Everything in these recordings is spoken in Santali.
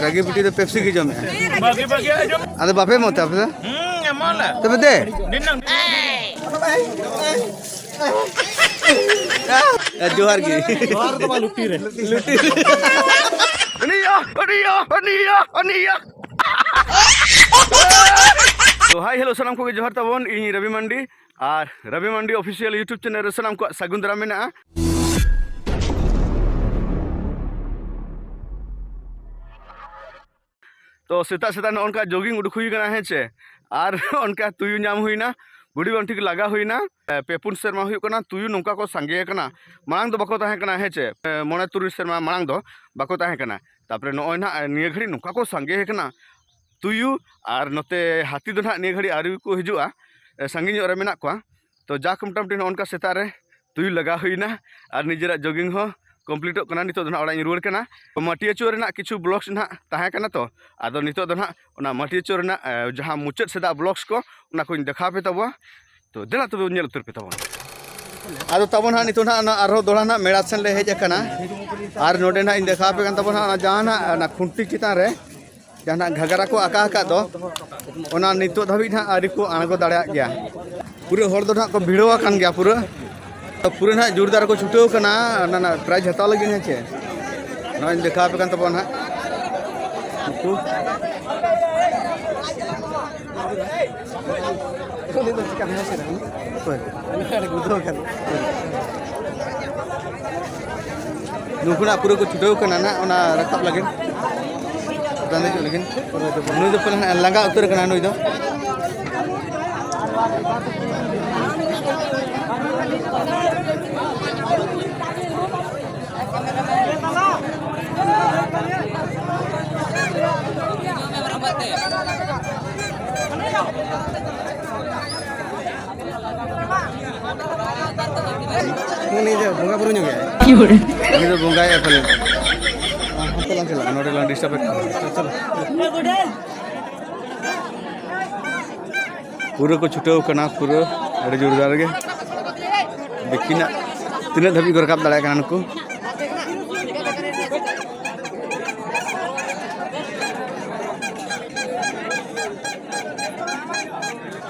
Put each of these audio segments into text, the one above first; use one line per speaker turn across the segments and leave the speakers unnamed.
ᱨᱟᱜᱤ ᱵᱤᱴᱤ ᱫᱚ ᱯᱮᱯᱥᱤ ᱜᱮ ᱡᱚᱢᱮ ᱟᱫᱚ ᱵᱟᱯᱮ ᱢᱚᱛᱟ ᱟᱯᱮ ᱫᱚ ᱛᱚᱵᱮ ᱫᱮ ᱡᱚᱦᱟᱨ ᱜᱮ ᱡᱚᱦᱟᱨ ᱫᱚ ᱵᱟ ᱞᱩᱴᱤ ᱨᱮ ᱞᱩᱴᱤ ᱟᱹᱱᱤᱭᱟ ᱟᱹᱱᱤᱭᱟ ᱟᱹᱱᱤᱭᱟ ᱟᱹᱱᱤᱭᱟ ᱛᱚ ᱦᱟᱭ ᱦᱮᱞᱳ ᱥᱟᱱᱟᱢ ᱠᱚᱜᱮ ᱡᱚᱦᱟᱨ ᱛᱟᱵᱚᱱ ᱤᱧ ᱨᱚᱵᱤ ᱢᱟᱱᱰᱤ ᱟᱨ Robi Mandi official YouTube channel ᱨᱮ ᱥᱟᱱᱟᱢ ᱠᱚᱣᱟᱜ ᱥᱟᱹᱜᱩᱱ ᱫᱟᱨᱟᱢ ᱢᱮᱱᱟᱜᱼᱟ ᱛᱚ ᱥᱮᱛᱟᱜ ᱥᱮᱛᱟᱜ ᱱᱚᱜᱼᱚ ᱱᱚᱝᱠᱟ ᱡᱳᱜᱤᱝ ᱩᱰᱩᱠ ᱦᱩᱭ ᱠᱟᱱᱟ ᱦᱮᱸ ᱪᱮ ᱟᱨ ᱚᱱᱠᱟ ᱛᱩᱭᱩ ᱧᱟᱢ ᱦᱩᱭᱱᱟ ᱵᱩᱰᱤ ᱵᱟᱝ ᱴᱷᱤᱠ ᱞᱟᱜᱟ ᱦᱩᱭᱱᱟ ᱯᱮ ᱯᱩᱱ ᱥᱮᱨᱢᱟ ᱦᱩᱭᱩᱜ ᱠᱟᱱᱟ ᱛᱩᱭᱩ ᱱᱚᱝᱠᱟ ᱠᱚ ᱥᱟᱸᱜᱮ ᱟᱠᱟᱱᱟ ᱢᱟᱲᱟᱝ ᱫᱚ ᱵᱟᱠᱚ ᱛᱟᱦᱮᱸ ᱠᱟᱱᱟ ᱦᱮᱸ ᱪᱮ ᱢᱚᱬᱮ ᱛᱩᱨᱩᱭ ᱥᱮᱨᱢᱟ ᱢᱟᱲᱟᱝ ᱫᱚ ᱵᱟᱠᱚ ᱛᱟᱦᱮᱸ ᱠᱟᱱᱟ ᱛᱟᱯᱚᱨᱮ ᱱᱚᱜᱼᱚᱭ ᱱᱟᱦᱟᱜ ᱱᱤᱭᱟᱹ ᱜᱷᱟᱹᱲᱤᱡ ᱱᱚᱝᱠᱟ ᱠᱚ ᱥᱟᱸᱜᱮ ᱟᱠᱟᱱᱟ ᱛᱩᱭᱩ ᱟᱨ ᱱᱚᱛᱮ ᱦᱟᱹᱛᱤ ᱫᱚ ᱱᱟᱦᱟᱜ ᱱᱤᱭᱟᱹ ᱜᱷᱟᱹᱲᱤᱡ ᱟᱹᱣᱨᱤ ᱠᱚ ᱦᱤᱡᱩᱜᱼᱟ ᱥᱟᱺᱜᱤᱧ ᱧᱚᱜ ᱨᱮ ᱢᱮᱱᱟᱜ ᱠᱚᱣᱟ ᱛᱚ ᱡᱟᱠ ᱢᱚᱴᱟᱢᱩᱴᱤ ᱱᱚᱜᱼᱚ ᱱᱚᱝᱠᱟ ᱥᱮᱛᱟᱜ ᱨᱮ ᱛᱩᱭᱩ ᱞᱟᱜᱟ ᱦᱩᱭᱱᱟ ᱟᱨ ᱱᱤᱡᱮᱨᱟᱜ ᱡᱚᱜᱤᱝ ᱦᱚᱸ ᱠᱚᱢᱯᱞᱤᱴᱚᱜ ᱠᱟᱱᱟ ᱱᱤᱛᱚᱜ ᱫᱚ ᱱᱟᱦᱟᱜ ᱚᱲᱟᱜ ᱤᱧ ᱨᱩᱣᱟᱹᱲ ᱠᱟᱱᱟ ᱢᱟᱹᱴᱤᱭᱟᱹ ᱪᱳ ᱨᱮᱱᱟᱜ ᱠᱤᱪᱷᱩ ᱵᱞᱚᱜᱥ ᱱᱟᱦᱟᱜ ᱛᱟᱦᱮᱸ ᱠᱟᱱᱟ ᱛᱚ ᱟᱫᱚ ᱱᱤᱛᱚᱜ ᱫᱚ ᱱᱟᱦᱟᱜ ᱚᱱᱟ ᱢᱟᱹᱴᱤᱭᱟᱹ ᱪᱳ ᱨᱮᱱᱟᱜ ᱡᱟᱦᱟᱸ ᱢᱩᱪᱟᱹᱫ ᱥᱮᱫᱟᱜ ᱵᱞᱚᱜᱥ ᱠᱚ ᱚᱱᱟ ᱠᱚᱧ ᱫᱮᱠᱷᱟᱣ ᱯᱮ ᱛᱟᱵᱚᱣᱟ ᱛᱚ ᱫᱮᱞᱟ ᱛᱚᱵᱮ ᱧᱮᱞ ᱩᱛᱟᱹᱨ ᱯᱮ ᱛᱟᱵᱚᱱ ᱟᱫᱚ ᱛᱟᱵᱚᱱ ᱦᱟᱸᱜ ᱱᱤᱛᱚᱜ ᱦᱟᱸᱜ ᱟᱨᱦᱚᱸ ᱫᱚᱲᱟ ᱦᱟᱸᱜ ᱢᱮᱲᱟ ᱥᱮᱱ ᱞᱮ ᱦᱮᱡ ᱟᱠᱟᱱᱟ ᱟᱨ ᱱᱚᱰᱮ ᱦᱟᱸᱜ ᱤᱧ ᱫᱮᱠᱷᱟᱣ ᱟᱯᱮ ᱠᱟᱱ ᱛᱟᱵᱚᱱ ᱦᱟᱸᱜ ᱡᱟᱦᱟᱸ ᱦᱟᱸᱜ ᱚᱱᱟ ᱠᱷᱩᱱᱴᱤ ᱪᱮᱛᱟᱱ ᱨᱮ ᱡᱟᱦᱟᱸ ᱦᱟᱸᱜ ᱜᱷᱟᱜᱽᱨᱟ ᱠᱚ ᱟᱠᱟ ᱟᱠᱟᱫ ᱫᱚ ᱚᱱᱟ ᱱᱤᱛᱚᱜ ᱫᱷᱟᱹᱵᱤᱡ ᱦᱟᱸᱜ ᱟᱹᱣᱨᱤ ᱠᱚ ᱟᱬᱜᱚ ᱫᱟᱲᱮᱭᱟᱜ ᱜᱮᱭᱟ ᱯᱩᱨᱟᱹ ᱦᱚᱲ ᱫᱚ ᱦᱟᱸᱜ ᱠᱚ ᱵᱷᱤᱲᱟᱹᱣ ᱟᱠᱟᱱ ᱜᱮᱭᱟ ᱯᱩᱨᱟᱹ ᱯᱩᱨᱟᱹ ᱱᱟᱜ ᱡᱳᱨᱫᱟᱨ ᱠᱚ ᱪᱷᱩᱴᱟᱹᱣ ᱠᱟᱱᱟ ᱚᱱᱟ ᱱᱟᱜ ᱯᱨᱟᱭᱤᱡᱽ ᱦᱟᱛᱟᱣ ᱞᱟᱹᱜᱤᱫ ᱦᱮᱸ ᱪᱮ ᱱᱚᱜᱼᱚᱭ ᱫᱮᱠᱷᱟᱣ ᱟᱯᱮ ᱠᱟᱱ ᱛᱟᱵᱚᱱ ᱱᱟᱜ ᱩᱱᱠᱩ ᱚᱠᱚᱭ ᱱᱩᱠᱩᱱᱟᱜ ᱯᱩᱨᱟᱹ ᱠᱚ ᱪᱷᱩᱴᱟᱹᱣ ᱠᱟᱱᱟ ᱱᱟᱜ ᱚᱱᱟ ᱨᱟᱠᱟᱵ ᱞᱟᱹᱜᱤᱫ ᱪᱮᱛᱟᱱ ᱫᱮᱡᱚᱜ ᱞᱟᱹᱜᱤᱫ ᱱᱩᱭ ᱫᱚ ᱯᱟᱞᱮᱱ ᱞᱟᱸᱜᱟ ᱩᱛᱟᱹᱨ ᱠᱟᱱᱟ ᱱᱩᱭ ᱫᱚ ᱩᱱᱤ ᱫᱚ ᱵᱚᱸᱜᱟ ᱵᱩᱨᱩ ᱧᱚᱜ ᱜᱮᱭᱟᱭ ᱩᱱᱤ ᱫᱚ ᱵᱚᱸᱜᱟᱭ ᱯᱟᱞᱮᱱ ᱦᱟᱱᱛᱮ ᱞᱟᱝ ᱪᱟᱞᱟᱜᱼᱟ ᱱᱚᱰᱮ ᱞᱟᱝ ᱰᱤᱥᱴᱟᱵ ᱯᱩᱨᱟᱹ ᱠᱚ ᱪᱷᱩᱴᱟᱹᱣ ᱠᱟᱱᱟ ᱯᱩᱨᱟᱹ ᱟᱹᱰᱤ ᱡᱳᱨᱫᱟᱨ ᱜᱮ ᱫᱮᱠᱷᱤᱱᱟᱜ ᱛᱤᱱᱟᱹᱜ ᱫᱷᱟᱹᱵᱤᱡ ᱠᱚ ᱨᱟᱠᱟᱵ ᱫᱟᱲᱮᱭᱟᱜ ᱠᱟᱱᱟ ᱱᱩᱠᱩ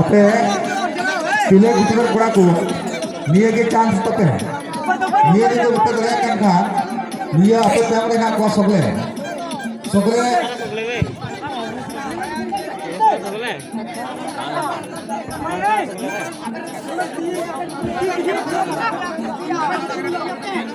ᱟᱯᱮ ᱛᱤᱞᱟᱹ ᱜᱤᱫᱽᱨᱟᱹ ᱠᱚᱲᱟ ᱠᱚ ᱱᱤᱭᱟᱹ ᱜᱮ ᱪᱟᱱᱥ ᱛᱟᱯᱮ ᱱᱤᱭᱟᱹ ᱜᱮ ᱵᱟᱯᱮ ᱫᱟᱲᱮᱭᱟᱜ ᱠᱟᱱ ᱠᱷᱟᱱ ᱱᱤᱭᱟᱹ ᱟᱯᱮ ᱛᱟᱭᱚᱢ ᱨᱮ ᱦᱮᱱᱟᱜ ᱠᱚᱣᱟ ᱥᱚᱜᱞᱮ ᱥᱚᱜᱞᱮ Thank you.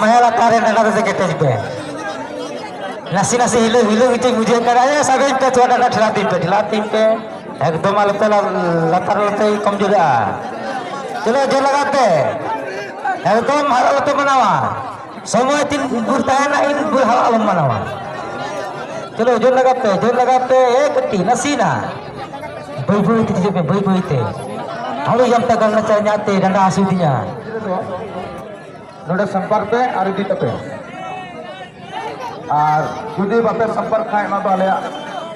ᱢᱟᱭᱟ ᱞᱟᱛᱟᱨ ᱨᱮ ᱰᱟᱸᱰᱟ ᱫᱚ ᱠᱮᱴᱮᱡ ᱯᱮ ᱱᱟᱥᱮ ᱱᱟᱥᱮ ᱦᱤᱞᱟᱹ ᱦᱤᱞᱟᱹ ᱜᱮᱛᱤᱧ ᱵᱩᱡᱷᱟᱹᱣ ᱠᱟᱱᱟ ᱮ ᱥᱟᱵᱮᱧ ᱯᱮ ᱛᱷᱚᱲᱟ ᱰᱟᱸᱰᱟ ᱴᱷᱮᱞᱟ ᱛᱤᱧ ᱯᱮ ᱴᱷᱮᱞᱟ ᱛᱤᱧ ᱯᱮ ᱮᱠᱫᱚᱢ ᱟᱞᱚ ᱯᱮ ᱞᱟᱛᱟᱨ ᱟᱞᱚ ᱯᱮ ᱠᱚᱢ ᱡᱩᱫᱟᱹᱜᱼᱟ ᱪᱚᱞᱚ ᱡᱳᱨ ᱞᱟᱜᱟᱣ ᱯᱮ ᱮᱠᱫᱚᱢ ᱟᱞᱚ ᱯᱮ ᱢᱟᱱᱟᱣᱟ ᱥᱚᱢᱚᱭ ᱛᱤᱱ ᱵᱷᱳᱨ ᱛᱟᱦᱮᱱᱟ ᱤᱱ ᱵᱷᱳᱨ ᱦᱟᱣᱟ ᱟᱞᱚᱢ ᱢᱟᱱᱟᱣᱟ ᱪᱚᱞᱚ ᱡᱳᱨ ᱞᱟᱜᱟᱣ ᱯᱮ ᱡᱳᱨ ᱞᱟᱜᱟᱣ ᱯᱮ ᱮ ᱠᱟᱹᱴᱤᱡ ᱱᱟᱥᱮᱱᱟ ᱵᱟᱹᱭ ᱵᱟᱹᱭ ᱛᱮ ᱦᱤᱡᱩᱜ ᱯᱮ ᱵᱟᱹᱭ ᱵᱟᱹᱭ ᱛᱮ ᱦᱟᱲᱩ ᱡᱟᱢᱛᱟ ᱜᱟᱱᱟ ᱪᱟᱭ ᱧᱟᱜ ᱛᱮ ᱰᱟᱸᱰᱟ ᱦᱟᱹᱥᱩᱭᱤᱫᱤᱧᱟ ᱱᱚᱰᱮ
ᱥᱚᱢᱯᱟᱨ ᱯᱮ ᱟᱨ ᱤᱫᱤ ᱛᱟᱯᱮ ᱟᱨ ᱡᱩᱫᱤ ᱵᱟᱯᱮ ᱥᱚᱢᱯᱟᱨ ᱠᱷᱟᱱ ᱚᱱᱟ ᱫᱚ ᱟᱞᱮᱭᱟᱜ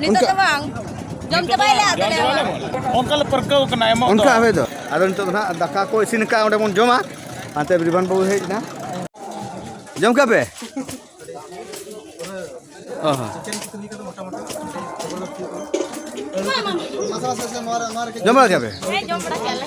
ᱱᱤᱛᱚᱜ ᱫᱚ ᱵᱟᱝ ᱡᱚᱢ ᱪᱟᱵᱟᱭᱟᱞᱮ ᱟᱫᱚ ᱞᱮ ᱮᱢᱟ ᱚᱱᱠᱟ ᱞᱮ
ᱯᱟᱹᱨᱠᱟᱹᱣ ᱠᱟᱱᱟ ᱮᱢᱚᱜ ᱚᱱᱠᱟ ᱦᱟᱵᱮ ᱫᱚ ᱟᱫᱚ
ᱱᱤᱛᱚᱜ ᱫᱚ ᱦᱟᱸᱜ ᱫᱟᱠᱟ ᱠᱚ ᱤᱥᱤᱱ ᱟᱠᱟᱫ ᱚᱸᱰᱮ ᱵᱚᱱ ᱡᱚᱢᱟ ᱦᱟᱱᱛᱮ ᱵᱤᱨᱵᱟᱱ ᱵᱟᱹᱵᱩ ᱦᱮᱡ ᱮᱱᱟ ᱡᱚᱢ ᱠᱟᱜ ᱯᱮ ᱚ ᱦᱚᱸ ᱡᱚᱢ ᱵᱟᱲᱟ ᱠᱮᱫᱟ ᱯᱮ ᱦᱮᱸ ᱡᱚᱢ
ᱵᱟᱲᱟ ᱠᱮᱫ ᱞᱮ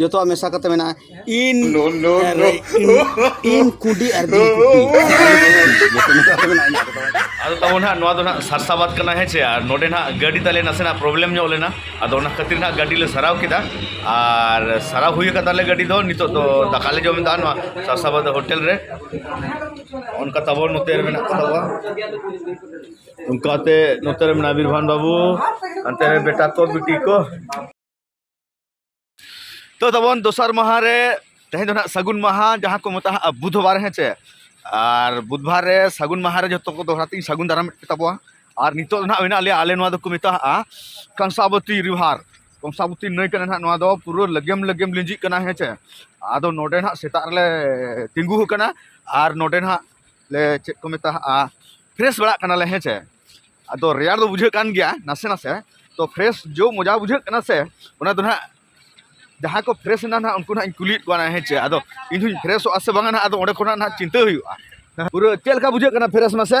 ᱡᱚᱛᱚᱣᱟᱜ ᱢᱮᱥᱟ ᱠᱟᱛᱮ ᱢᱮᱱᱟᱜᱼᱟ ᱤᱱ ᱤᱱ ᱠᱩᱰᱤ ᱟᱨ ᱫᱤᱱ ᱟᱫᱚ ᱛᱟᱵᱚ ᱱᱟᱜ ᱱᱚᱣᱟ ᱫᱚ ᱱᱟᱜ ᱥᱟᱨᱥᱟᱵᱟᱫ ᱠᱟᱱᱟ ᱦᱮᱸ ᱪᱮ ᱟᱨ ᱱᱚᱰᱮ ᱱᱟᱜ ᱜᱟᱹᱰᱤ ᱛᱟᱞᱮ ᱱᱟᱥᱮᱱᱟᱜ ᱯᱨᱚᱵᱞᱮᱢ ᱧᱚᱜ ᱞᱮᱱᱟ ᱟᱫᱚ ᱚᱱᱟ ᱠᱷᱟᱹᱛᱤᱨ ᱱᱟᱜ ᱜᱟᱹᱰᱤ ᱞᱮ ᱥᱟᱨᱟᱣ ᱠᱮᱫᱟ ᱟᱨ ᱥᱟᱨᱟᱣ ᱦᱩᱭ ᱟᱠᱟᱫ ᱛᱟᱞᱮ ᱜᱟᱹᱰᱤ ᱫᱚ ᱱᱤᱛᱚᱜ ᱫᱚ ᱫᱟᱠᱟ ᱞᱮ ᱡᱚᱢ ᱮᱫᱟ ᱱᱚᱣᱟ ᱥᱟᱨᱥᱟᱵᱟᱫ ᱦᱳᱴᱮᱞ ᱨᱮ ᱚᱱᱠᱟ ᱛᱟᱵᱚ ᱱᱚᱛᱮ ᱨᱮ ᱢᱮᱱᱟᱜ ᱠᱚ ᱛᱟᱵᱚᱣᱟ ᱚᱱᱠᱟᱛᱮ ᱱᱚᱛᱮ ᱨᱮ ᱢᱮᱱᱟᱜᱼᱟ ᱵᱤᱨᱵᱷᱟᱱ ᱵᱟᱹᱵᱩ ᱦᱟᱱᱛᱮ ᱨᱮ ᱵᱮᱴᱟ ᱠᱚ ᱵᱤᱴᱤ ᱠᱚ ᱛᱚ ᱛᱟᱵᱚᱱ ᱫᱚᱥᱟᱨ ᱢᱟᱦᱟ ᱨᱮ ᱛᱮᱦᱮᱧ ᱫᱚ ᱱᱟᱜ ᱥᱟᱹᱜᱩᱱ ᱢᱟᱦᱟ ᱡᱟᱦᱟᱸ ᱠᱚ ᱢᱮᱛᱟᱜᱼᱟ ᱵᱩᱫᱷᱵᱟᱨ ᱦᱮᱸ ᱪᱮ ᱟᱨ ᱵᱩᱫᱷᱵᱟᱨ ᱨᱮ ᱥᱟᱹᱜᱩᱱ ᱢᱟᱦᱟ ᱨᱮ ᱡᱚᱛᱚ ᱠᱚ ᱫᱚᱦᱲᱟ ᱛᱮᱧ ᱥᱟᱹᱜᱩᱱ ᱫᱟᱨᱟᱢᱮᱫ ᱛᱟᱵᱚᱣᱟ ᱟᱨ ᱱᱤᱛᱚᱜ ᱫᱚ ᱱᱟᱜ ᱢᱮᱱᱟᱜ ᱞᱮᱭᱟ ᱟᱞᱮ ᱱᱚᱣᱟ ᱫᱚᱠᱚ ᱢᱮᱛᱟᱜᱼᱟ ᱠᱚᱝᱥᱟᱵᱚᱛᱤ ᱨᱤᱵᱷᱟᱨ ᱠᱚᱝᱥᱟᱵᱚᱛᱤ ᱱᱟᱹᱭ ᱠᱟᱱᱟ ᱱᱟᱜ ᱱᱚᱣᱟ ᱫᱚ ᱯᱩᱨᱟᱹ ᱞᱮᱜᱮᱢ ᱞᱮᱜᱮᱢ ᱞᱤᱸᱡᱤᱜ ᱠᱟᱱᱟ ᱦᱮᱸ ᱪᱮ ᱟᱫᱚ ᱱᱚᱰᱮ ᱱᱟᱜ ᱥᱮᱛᱟᱜ ᱨᱮᱞᱮ ᱛᱤᱸᱜᱩ ᱟᱠᱟᱱᱟ ᱟᱨ ᱱᱚᱰᱮ ᱱᱟᱜ ᱞᱮ ᱪᱮᱫ ᱠᱚ ᱢᱮᱛᱟᱜᱼᱟ ᱯᱷᱨᱮᱥ ᱵᱟᱲᱟᱜ ᱠᱟᱱᱟᱞᱮ ᱦᱮᱸ ᱪᱮ ᱟᱫᱚ ᱨᱮᱭᱟᱲ ᱫᱚ ᱵᱩᱡᱷᱟᱹᱜ ᱠᱟᱱ ᱜᱮᱭᱟ ᱱᱟᱥᱮ ᱱᱟᱥᱮ ᱛᱚ ᱯᱷᱨᱮᱥ ᱡᱚ ᱢᱚᱡᱟ ᱵᱩᱡᱷᱟᱹᱜ ᱠᱟᱱᱟ ᱥᱮ ᱚᱱᱟ ᱫᱚ ᱱᱟᱦᱟᱜ ᱡᱟᱦᱟᱸᱭ ᱠᱚ ᱯᱷᱨᱮᱥ ᱮᱱᱟ ᱱᱟᱦᱟᱜ ᱩᱱᱠᱩ ᱱᱟᱦᱟᱜ ᱤᱧ ᱠᱩᱞᱤᱭᱮᱫ ᱠᱚᱣᱟ ᱦᱮᱸ ᱪᱮ ᱟᱫᱚ ᱤᱧ ᱦᱚᱧ ᱯᱷᱨᱮᱥᱚᱜᱼᱟ ᱥᱮ ᱵᱟᱝᱟ ᱱᱟᱦᱟᱜ ᱟᱫᱚ ᱚᱸᱰᱮ ᱠᱷᱚᱱᱟᱜ ᱱᱟᱦᱟᱜ ᱪᱤᱱᱛᱟᱹ ᱦᱩᱭᱩᱜᱼᱟ ᱯᱩᱨᱟᱹ ᱪᱮᱫ ᱞᱮᱠᱟ ᱵᱩᱡᱷᱟᱹᱜ ᱠᱟᱱᱟ ᱯᱷᱨᱮᱥ ᱢᱟᱥᱮ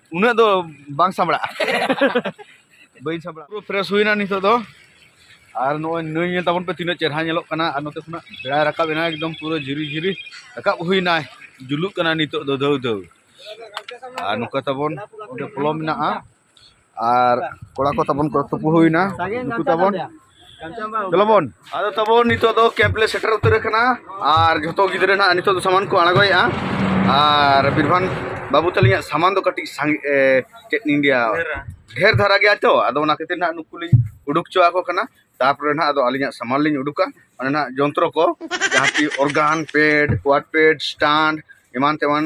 ᱩᱱᱟᱹᱜ ᱫᱚ ᱵᱟᱝ ᱥᱟᱢᱲᱟᱜᱼᱟ ᱵᱟᱹᱧ ᱥᱟᱢᱲᱟᱜᱼᱟ ᱯᱩᱨᱟᱹ ᱯᱷᱨᱮᱥ ᱦᱩᱭᱱᱟ ᱱᱤᱛᱚᱜ ᱫᱚ ᱟᱨ ᱱᱚᱜᱼᱚᱭ ᱱᱟᱹᱭ ᱧᱮᱞ ᱛᱟᱵᱚᱱ ᱯᱮ ᱛᱤᱱᱟᱹᱜ ᱪᱮᱨᱦᱟ ᱧᱮᱞᱚᱜ ᱠᱟᱱᱟ ᱟᱨ ᱱᱚᱛᱮ ᱠᱷᱚᱱᱟᱜ ᱵᱮᱲᱟᱭ ᱨᱟᱠᱟᱵ ᱮᱱᱟ ᱮᱠᱫᱚᱢ ᱯᱩᱨᱟᱹ ᱡᱷᱤᱨᱤ ᱡᱷᱤᱨᱤ ᱨᱟᱠᱟᱵ ᱦᱩᱭᱱᱟ ᱡᱩᱞᱩᱜ ᱠᱟᱱᱟ ᱱᱤᱛᱚᱜ ᱫᱚ ᱫᱷᱟᱹᱣ ᱫᱷᱟᱹᱣ ᱟᱨ ᱱᱚᱝᱠᱟ ᱛᱟᱵᱚᱱ ᱚᱸᱰᱮ ᱯᱚᱞᱚ ᱢᱮᱱᱟᱜᱼᱟ ᱟᱨ ᱠᱚᱲᱟ ᱠᱚ ᱛᱟᱵᱚᱱ ᱠᱚ ᱛᱩᱯᱩ ᱦᱩᱭᱱᱟ ᱱᱩᱠᱩ ᱛᱟᱵᱚᱱ ᱫᱮᱞᱟᱵᱚᱱ ᱟᱫᱚ ᱛᱟᱵᱚ ᱱᱤᱛᱚᱜ ᱫᱚ ᱠᱮᱢᱯ ᱞᱮ ᱥᱮᱴᱮᱨ ᱩᱛᱟᱹᱨ ᱟᱠᱟᱱᱟ ᱟᱨ ᱡᱷᱚᱛᱚ ᱜᱤᱫᱽᱨᱟᱹ ᱱᱟᱜ ᱱᱤᱛᱚᱜ ᱫᱚ ᱥᱟᱢᱟᱱ ᱠᱚ ᱟᱬᱜᱚᱭᱮᱜᱼᱟ ᱟᱨ ᱵᱤᱨᱵᱷᱟᱱ ᱵᱟᱹᱵᱩ ᱛᱟᱹᱞᱤᱧᱟᱜ ᱥᱟᱢᱟᱱ ᱫᱚ ᱠᱟᱹᱴᱤᱡ ᱥᱟᱸᱜᱮ ᱪᱮᱫ ᱤᱧ ᱞᱟᱹᱭᱟ ᱰᱷᱮᱨ ᱫᱷᱟᱨᱟ ᱜᱮᱭᱟ ᱛᱚ ᱟᱫᱚ ᱚᱱᱟ ᱠᱷᱟᱹᱛᱤᱨ ᱱᱟᱜ ᱱᱩᱠᱩ ᱞᱤᱧ ᱩᱰᱩᱠ ᱦᱚᱪᱚ ᱟᱠᱚ ᱠᱟᱱᱟ ᱛᱟᱨᱯᱚᱨᱮ ᱱᱟᱜ ᱟᱫᱚ ᱟᱹᱞᱤᱧᱟᱜ ᱥᱟᱢᱟᱱ ᱞᱤᱧ ᱩᱰᱩᱠᱟ ᱚᱱᱟ ᱱᱟᱜ ᱡᱚᱱᱛᱨᱚ ᱠᱚ ᱡᱟᱦᱟᱸ ᱠᱤ ᱚᱨᱜᱟᱱ ᱯᱮᱰ ᱠᱚᱣᱟᱰ ᱯᱮᱰ ᱥᱴᱟᱱᱰ ᱮᱢᱟᱱ ᱛᱮᱢᱟᱱ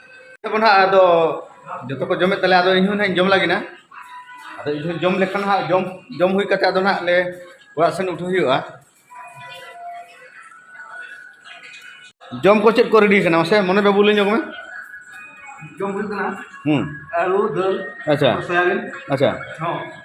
ᱛᱟᱵᱚᱱ ᱦᱟᱸᱜ ᱟᱫᱚ ᱡᱚᱛᱚ ᱠᱚ ᱡᱚᱢᱮᱫ ᱛᱟᱞᱮ ᱟᱫᱚ ᱤᱧᱦᱚᱸ ᱱᱟᱦᱟᱜ ᱡᱚᱢ ᱞᱟᱹᱜᱤᱫ ᱱᱟ ᱟᱫᱚ ᱤᱧᱦᱚᱸ ᱡᱚᱢ ᱞᱮᱠᱷᱟᱱ ᱦᱟᱸᱜ ᱡᱚᱢ ᱡᱚᱢ ᱦᱩᱭ ᱠᱟᱛᱮ ᱟᱫᱚ ᱱᱟᱦᱟᱜ ᱞᱮ ᱚᱲᱟᱜ ᱥᱮᱱ ᱩᱴᱷᱟᱹ ᱦᱩᱭᱩᱜᱼᱟ ᱡᱚᱢ ᱠᱚ ᱪᱮᱫ ᱠᱚ ᱨᱮᱰᱤ ᱠᱟᱱᱟ ᱢᱟᱥᱮ ᱢᱚᱱᱮ ᱵᱟᱹᱵᱩ ᱞᱟᱹᱭ ᱧᱚᱜ ᱢᱮ
ᱡᱚᱢ ᱦᱩᱭᱩᱜ ᱠᱟᱱᱟ ᱦᱩᱸ ᱟᱹᱞᱩ
ᱫᱟᱹᱞ ᱟᱪᱪᱷᱟ
ᱥᱚᱭᱟᱵᱤᱱ
ᱟᱪᱪᱷᱟ
ᱦᱚᱸ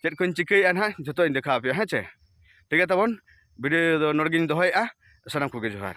ᱪᱮᱫ ᱠᱚᱧ ᱪᱤᱠᱟᱹᱭᱮᱫᱼᱟ ᱱᱟᱦᱟᱜ ᱡᱚᱛᱚᱧ ᱫᱮᱠᱷᱟᱣ ᱟᱯᱮᱭᱟ ᱦᱮᱸ ᱪᱮ ᱴᱷᱤᱠ ᱜᱮᱭᱟ ᱛᱟᱵᱚᱱ ᱵᱷᱤᱰᱤᱭᱳ ᱫᱚ ᱱᱚᱰᱮ ᱜᱮᱧ ᱫᱚᱦᱚᱭᱮᱫᱼᱟ ᱥᱟᱱᱟᱢ ᱠᱚᱜᱮ ᱡᱚᱦᱟᱨ